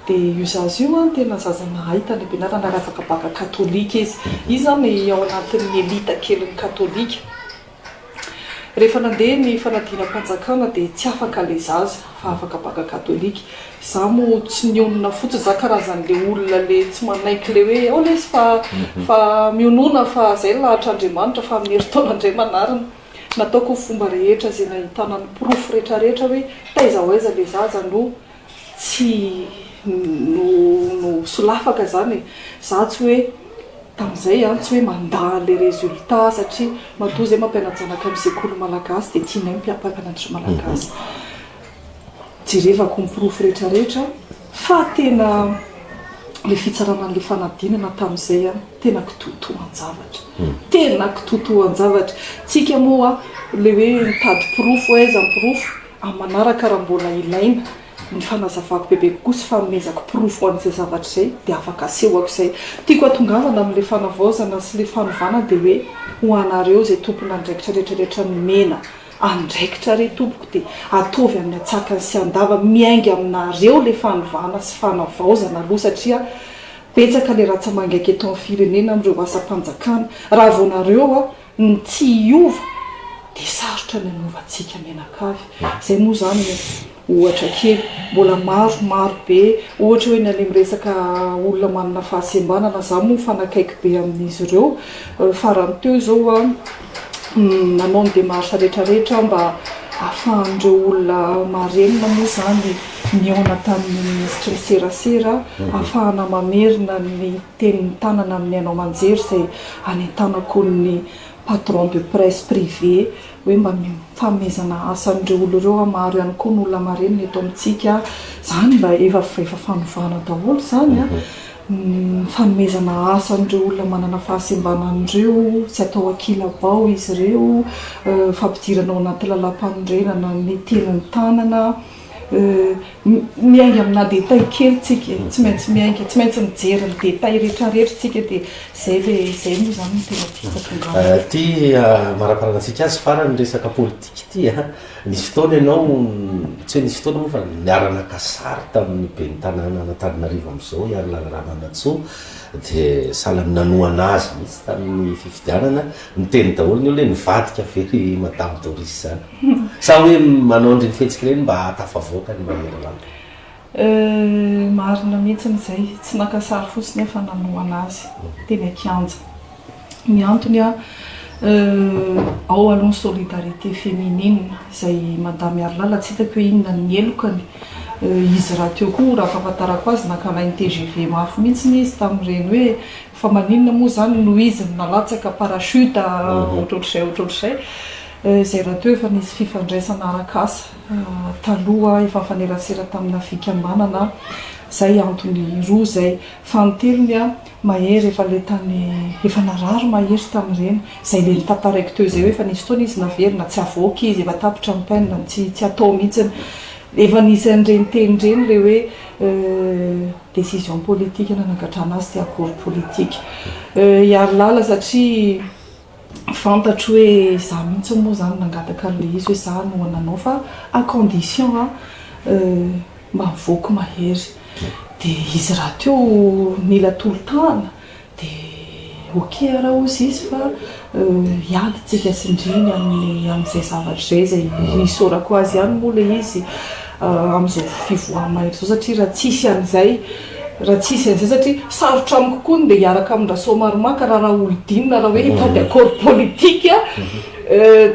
dia io zaza io an tena zaza nahay tany am-pianarana ary afaka baka katolika izy. Izy zany ao anatin'ny elite kelin'ny katolika. Rehefa nandeha ny fanadinam-panjakana dia tsy afaka le zaza fa afaka banga katolika. Za mo tsy nionona fotsiny za karazany le olona le tsy manaiky le hoe ao lesy fa fa mionona fa zay lahatra Andriamanitra fa amin'ny herintaona ndray manarina. Nataoko ny fomba rehetra ze nahitana ny porofo retraretra hoe taiza ho aiza le zaza no Tsy no no solafaka zany e, za tsy hoe tamzay an, tsy hoe mandà anle resultat satria matoa zay mampianajanaka am sekoly malagasy de tianay mpiampampianatry malagasy jerevako ny porofo retraretra fa tena le fitsarana anle fanadinana tamzay an tena kitoatoanjavatra tena kitoatoanjavatra tsika moa le hoe mitady porofo aiza ny porofo Amin'ny manaraka raha mbola ilaina ny fanazavako bebe kokoa sy fanomezako porofo ho an'izay zavatra izay dia afaka asehoko izay. Tiako hatongavana amin'ilay fanavaozana sy ilay fanovana dia hoe ho anareo izay tompon'andraikitra rehetrarehetra nomena andraikitra re tompoko dia ataovy amin'ny atsakany sy andavany miainga aminareo ilay fanovana sy fanavaozana aloha satria betsaka ilay ratsamangaika eto amin'ny firenena amin'ireo asam-panjakana raha vao nareo Ny tsy hiova dia sarotra ny hanaovantsika mianakavy. Izay moa izany ohatra kely. Mbola maro, maro be. Ohatra hoe ny any amin'ny resaka olona manana fahasembanana, izaho moa mifanakaiky be amin'izy ireo. Farany teo izao aho nanao ny démarche rehetra rehetra mba ahafahan'ireo olona marenina moa izany nihaona tamin'ny minisitry ny serasera, ahafahana mamerina ny teny mitanana amin'ny haino aman-jery izay anentanako ny patron de presse privé hoe mba mifanomezana asa an'ireo olona ireo aho, maro ihany koa ny olona marenina eto amintsika, izany mba efa fanovana daholo izany an, ny fanomezana asa an'ireo olona manana fahasembanana an'ireo, tsy atao ankilabao izy ireo, fampidirana ao anaty lalàmpanorenana ny teny mitanana. Euh. Miainga amina détail kely tsika e, tsy maintsy miainga, tsy maintsy mijery ny détail rehetra rehetra tsika dia zay le, zay moa zany no tena tiako hatongavan. Euh, ty amaraparana antsika azy farany resaka politique ty a, nisy fotoana ianao, tsy hoe nisy fotoana moa fa niara naka sary tamin'ny ben'ny tanàna an'Antananarivo amizao i Harilala Ramanantsoa de sahala nanohana azy mihitsy tamin'ny fifidianana, niteny daholo ny olona hoe nivadika ve ry madame Doris zany? Sa hoe manao an'ireny fihetsika ireny mba hahatafavoaka ny mahery rano? Euh, marina mihitsiny izay, tsy naka sary fotsiny aho fa nanohana azy teny an-kianja. Ny antony an, euh, ao aloha ny solidarité féminine, izay Madame Miarilala tsy hitako hoe inona ny helokany, euh, izy rahateo koa raha fahafantarako azy nankalainy tgv mafy mihitsiny izy tamin'ireny hoe Fa maninona moa izany no izy no nalatsaka parachute ohatrohatr'izay ohatrohatr'izay. Izay rahateo efa nisy fifandraisana arak'asa taloha efa nifanerasera tamina fikambanana izay antony roa izay. Fanintelony Mahery efa ilay tany efa narary Mahery tamin'ireny izay ilay notantaraiko teo izay hoe efa nisy fotoana izy naverina tsy avoaka izy efa tapitra ny peinle tsy tsy atao mihitsiny. Efa nisy an'ireny teny ireny ilay hoe Décision politique nanagadrana azy tsy accord politique hiaro lala satria fantatro hoe za mihitsy moa zany nangataka anle izy hoe za no nanao fa à condition a mba mivoky mahery de izy rahateo nila tolotahana Dia ok ara hozy izy fa hiady tsika tsindriny amin'izay zavatra izay, izay isaorako azy ihany moa ilay izy amin'izao fivoaha mailo izao satria raha tsisy an'izay, raha tsisy an'izay satria sarotra amiko koa ny ndeha hiaraka amin'i Rasoamaromaka raha Raholdina raha hoe hitady accord politique,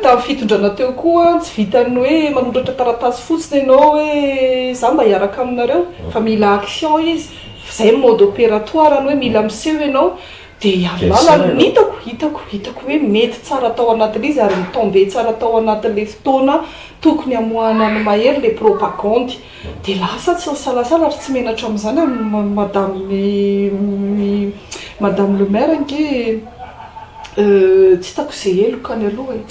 tamin'ny fitondrana teo koa tsy vitan'ny hoe manoratra taratasy fotsiny ianao hoe za mba hiaraka aminareo fa mila action izy. Zay ny mode opératoire ny hoe mila miseho ianao dia amin'ny alalan'ny, ny hitako, hitako, hitako hoe mety tsara tao anatin'ilay izy ary mi-tomber tsara tao anatin'ilay fotoana tokony hamoahana an'i Mahery ilay propagandy dia lasa tsy nisalasala ary tsy menatra amin'izany amin'i madame i madame le maire ange tsy hitako izay heloka any aloha e!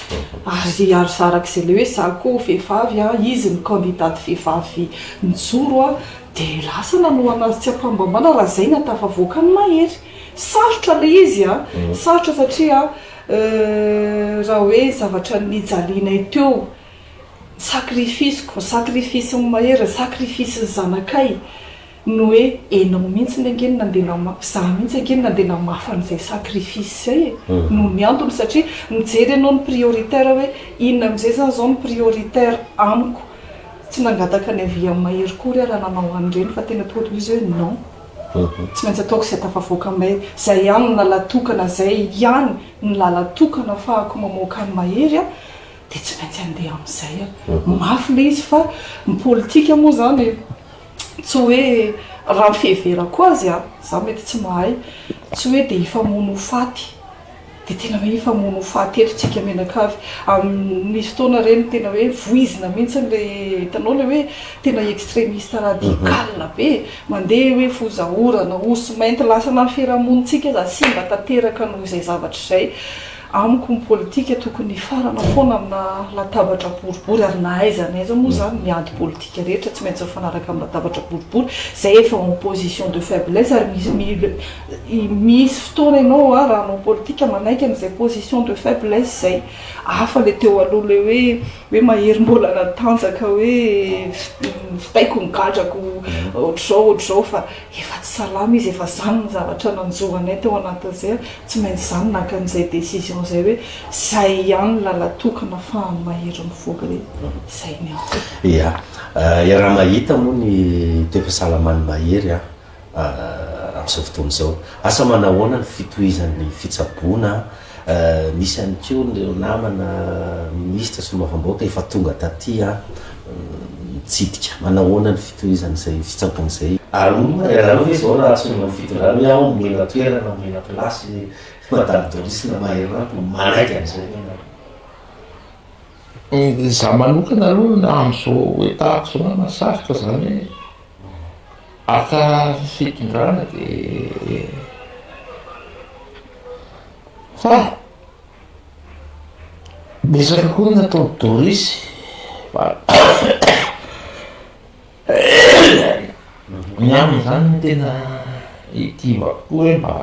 ary ary zarak'izay ilay hoe za koa vehivavy an, izy ny candidate vehivavy nijoro an! Dia lasa nanohana azy tsy am-pahambambana raha izay na tafavoaka ny mahery. Sarotra ilay izy an! Sarotra satria raha hoe zavatra nijalianay teo, ny sacrifice-ko, ny sacrifice-n'i Mahery, ny sacrifice-n'ny zanakay no hoe ianao mihitsy ange no nandeha namafy, izaho mihitsy ange no nandeha namafy an'izay sacrifice izay e! Noho ny antony satria mijery ianao ny prioritaire hoe inona amin'izay izany izao no prioritaire amiko. Tsy nangataka ny avis an'i Mahery koa re raha nanao an'ireny fa tena tonga de izy hoe non, tsy maintsy ataoko izay tafavoaka an'i Mahery, izay ihany no làlà tokana, izay ihany no làlà tokana afahako mamoaka an'i Mahery aho dia tsy maintsy andeha amin'izay aho. Mafy ilay izy fa ny politika moa izany tsy hoe raha ny fiheverako azy an, izaho mety tsy mahay, tsy hoe dia hifamono ho faty. Dia tena hoe efa mono ho faty eto tsika mianakavy. Amin misy fotoana re no tena hoe voizina mihintsiny ilay hitanao ilay hoe tena extremiste radical be e! Mandeha hoe foza orana, osy mainty lasa na ny fiarahamonin tsika aza simba tanteraka noho izay zavatra izay. Amiko ny politika tokony hifarana foana amina latabatra boribory ary na aiza na aiza moa izany ny ady politika rehetra tsy maintsy mifanaraka amin'ny latabatra boribory izay efa en position de faiblesse ary misy mil Misy fotoana ianao raha hanao politika manaiky an'izay position de faiblesse izay, hafa ilay teo aloha ilay hoe hoe mahery mbola natanjaka hoe vitaiko ny gadrako ohatr'izao ohatr'izao fa efa tsy salama izy efa izany ny zavatra nanjo anay tao anatin'izay ary tsy maintsy izaho no naka an'izay décision izay hoe izay ihany ny lalan-toky nafahan'i Mahery mivoaka hoe izay ny ahy. Ia, iaraha-mahita moa ny toe-pahasalaman'i Mahery an! amin'izao fotoana izao. Asa manahoana ny fitohizan'ny fitsaboana? Misy ihany koa ireo namana minisitra solombavambahoaka efa tonga taty nitsidika. Manahoana ny fitohizan'izay fitsaboana izay? Arovana dia arovana ve izao raha antsoinao ny fitondrana hoe ao omena toerana, omena place Madame Doris na Maherimampo? Manaiky an'izay ve ianareo? Izaho manokana aloha amin'izao état actuel mahasarika izany hoe. Haka fitondrana dia fa betsaka koa ny nataon'i Doris fa ny aminy izany no tena itivako koa hoe mba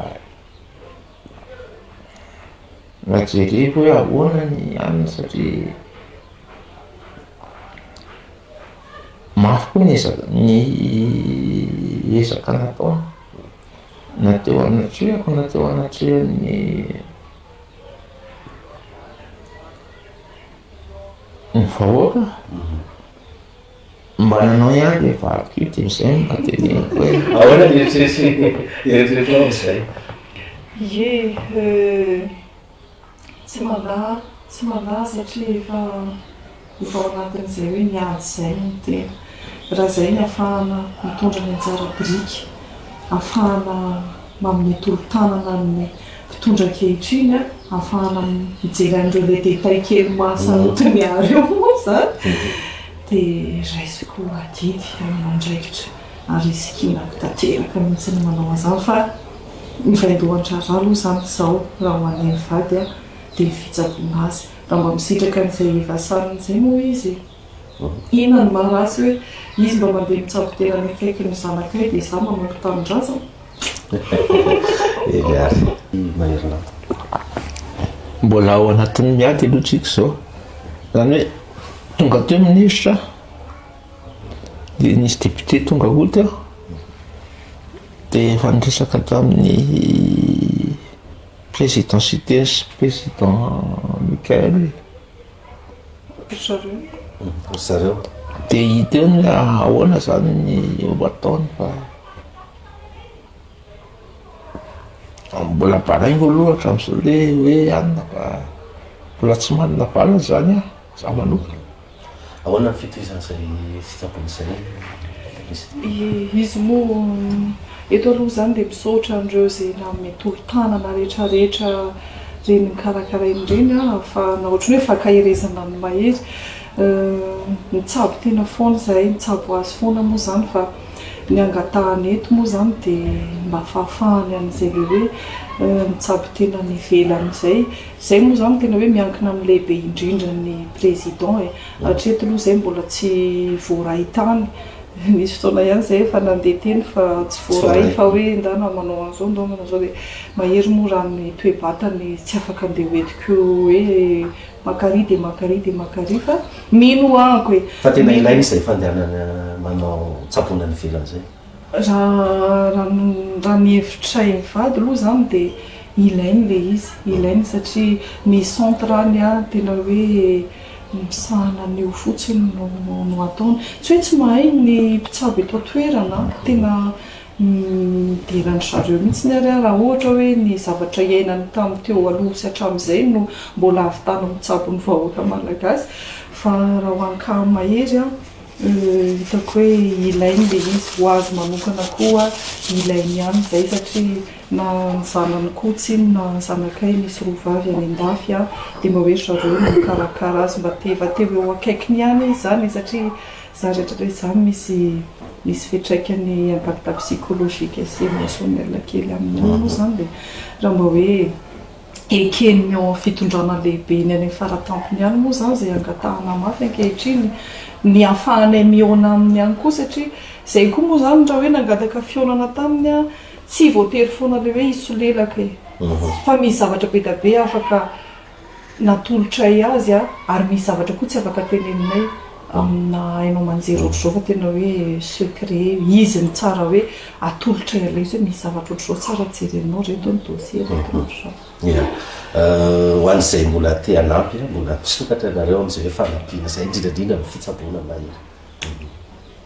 mba jereko hoe ahoana ny aminy satria Mafy koa ny ezaka ny ezaka nataony na teo anatrehako na teo anatrehan'ny ny vahoaka mba nanao ihany le vadiko io dia izay no mba teneniko hoe ahoana ny eritreritry ny eritreritrinao amin'izay? Ie, euh, Tsy mandà, tsy mandà satria efa efa ao anatin'izay hoe ny ady izay no tena. Raha izay ny afahana mitondra ny anjara biriky, afahana manome tolo-tanana ny mpitondra ankehitriny, afahana mijery an'ireo le détails kely mahasaroty ny ahy ireo moa izany dia raisiko adidy aman'andraikitra ary sikinako tanteraka mihitsy ny manao an'izany fa Ny vaindohan-draharaha aloha izany izao raha ho anay mivady aho dia ny fitsaboana azy. Raha mba misitraka an'izay efa sanany izay moa izy e! Inona no maha ratsy hoe izy mba mandeha mitsabo tena any akaiky ny zanakay dia izaho manompo tanindrazana? Mbola ao anatin'ny miady aloha tsika izao. Izany hoe tonga teo minisitra dia nisy député tonga aout aho. Dia efa niresaka tamin'ny Président Siteny sy Président Michael ry zareo. Ry zareo. Dia hiteny hoe ahoana izany ny ho hataony fa mbola baraingo aloha hatramin'izao ilay hoe hanina fa mbola tsy manana valiny izany aho. Izaho manokana, ahoana ny fitohizan'izay fitsapana izay, Minisitra? Izy moa eto aloha izany dia misaotra an'ireo izay nanome tolo-tanana rehetrarehetra ireny nokarakarainy ireny ahafahana ohatran'ny hoe fankaherezana an'i Mahery. Mitsabo tena foana izahay, mitsabo azy foana moa izany fa ny angatahany eto moa izany dia mba fahafahany an'izay ilay hoe mitsabo tena any ivelany izay Zay moa zany tena hoe miankina amin'ny lehibe indrindra ny président e! Hatreto aloha zay mbola tsy voaray tany, nisy fotoana ihany zay efa nandeha teny fa tsy voaray fa hoe ndana manao an'zao ndao manao zao dia mahery moa raha ny toe-batany tsy afaka andeha ho entiko hoe maka ary dia maka ary dia maka ary fa mino anko e! Fa tena ilaina izay fandehanana manao tsaboina any ivelany izay. Raha raha ny hevitray mivady aloha izany dia ilainy ilay izy, ilainy satria ny centre any tena hoe misahana ny eo fotsiny no no ataony. Tsy hoe tsy mahay ny mpitsabo eto an-toerana an, tena midera an-dry zareo mihitsy ary aho raha ohatra hoe ny zavatra iainany tamin'ny teo aloha sy hatramin'izay no mbola ahavitana mitsabo ny vahoaka malagasy fa raha ho an'i Kama irery an, Hitako hoe ilainy ilay izy, ho azy manokana koa ilainy ihany izay satria na ny zanany koa tsinona na ny zanakay misy roa vavy any an-dafy dia mba hoe ry zareo no mikarakara azy mba te mba te ho eo akaikiny ihany izy izany e satria za rehetra hoe za no misy misy fiantraikany impact psychologique sy emotionnel kely aminy ihany moa izany dia raha mba hoe eken'ny ao amin'ny fitondrana lehibe eny amin'ny faratampony ihany moa izany izay angatahana mafy ankehitriny ny hahafahanay mihaona aminy ihany koa satria izay koa moa izany raha hoe nangataka fihaonana taminy aho tsy voatery foana ilay hoe hisolelaka e! fa misy zavatra be dia be afaka natolotray azy ary misy zavatra koa tsy afaka teneninay amina haino aman-jery ohatr'izao fa tena hoe secret, izy no tsara hoe atolotra ilay izy hoe misy zavatra ohatr'izao tsara jerenao ry reto ny dossier ry reto ohatr'izao. Ia, ho an'izay mbola te hanampy, mbola misokatra ianareo amin'izay hoe fanampiana izay, indrindra indrindra ny fitsaboana mahery.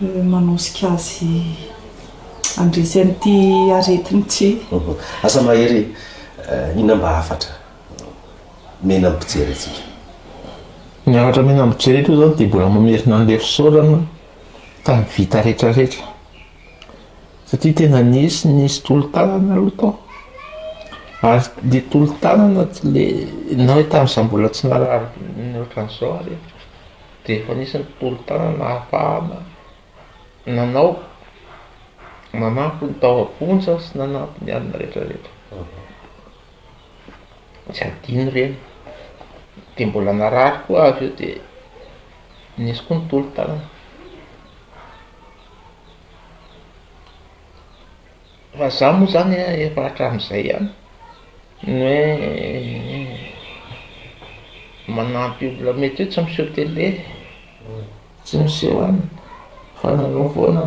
manosika azy handresy an'ity aretiny ity. Asa mahery eh, inona mba hafatra mena mpijery antsika? Ny hafatra mena mpijery eto izao dia mbola mamerina an'ilay fisaorana tamin'ny vita rehetra rehetra. Satria tena nisy nisy tolo-tanana aloha tao. Ary le tolo-tanana le na hoe tamin'izaho mbola tsy narary ny ohatran'izao ary. dia efa nisy ny tolotanana nahafahana nanao, nanampy ny tao am-ponja sy nanampy ny alina rehetra rehetra, tsy adino ireny, de mbola narary koa avy eo de nisy koa ny tolotanana. Raha za moa zany a efa hatram'izay a ny hoe manampy olona mety hoe tsy miseho télé, tsy miseho any fa nanao foana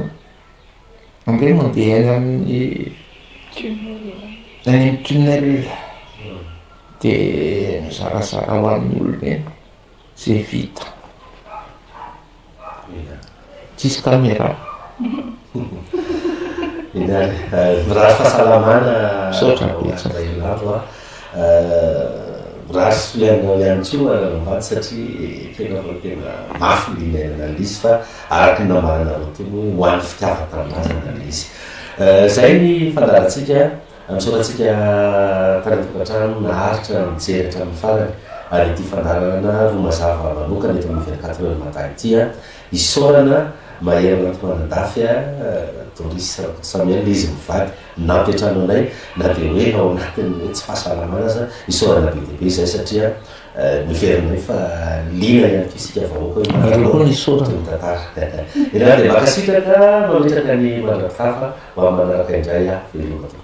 ange mandeha any amin'ny any amin'ny tunnel de mizarazara ho an'ny olona eny. Tsy vita. Tsisy caméra. Mirary fahasalamana. Misaotra betsaka. Mirary soa ihany anao ihany koa Ravato satria tena fa tena mafy ny niainana Lisy fa araka ny nambaranareo teo hoe ho an'ny fitiavan-tanindrazana ilay izy. Izay ny fandaharantsika. Antsorantsika tany an-tokantrano naharitra mijery hatramin'ny farany ary ity fandaharana roa mazava manokana eto amin'ny vingt quatre heures matin ity an! isaorana Mahery Rantmandandafy a! Doris Rakotosamiel izy mivady mnampy an-trano anay na dia hoe ao anatin'ny hoe tsy fahasalamana aza, isaorana be dia be izay satria niverinay fa liana ihany koa isika vahoaka hoe manaraka ny tantara. Enao dia mankasitraka mametraka ny mandra-pitafa ho amin'ny manaraka indray aho, veloma tompoko.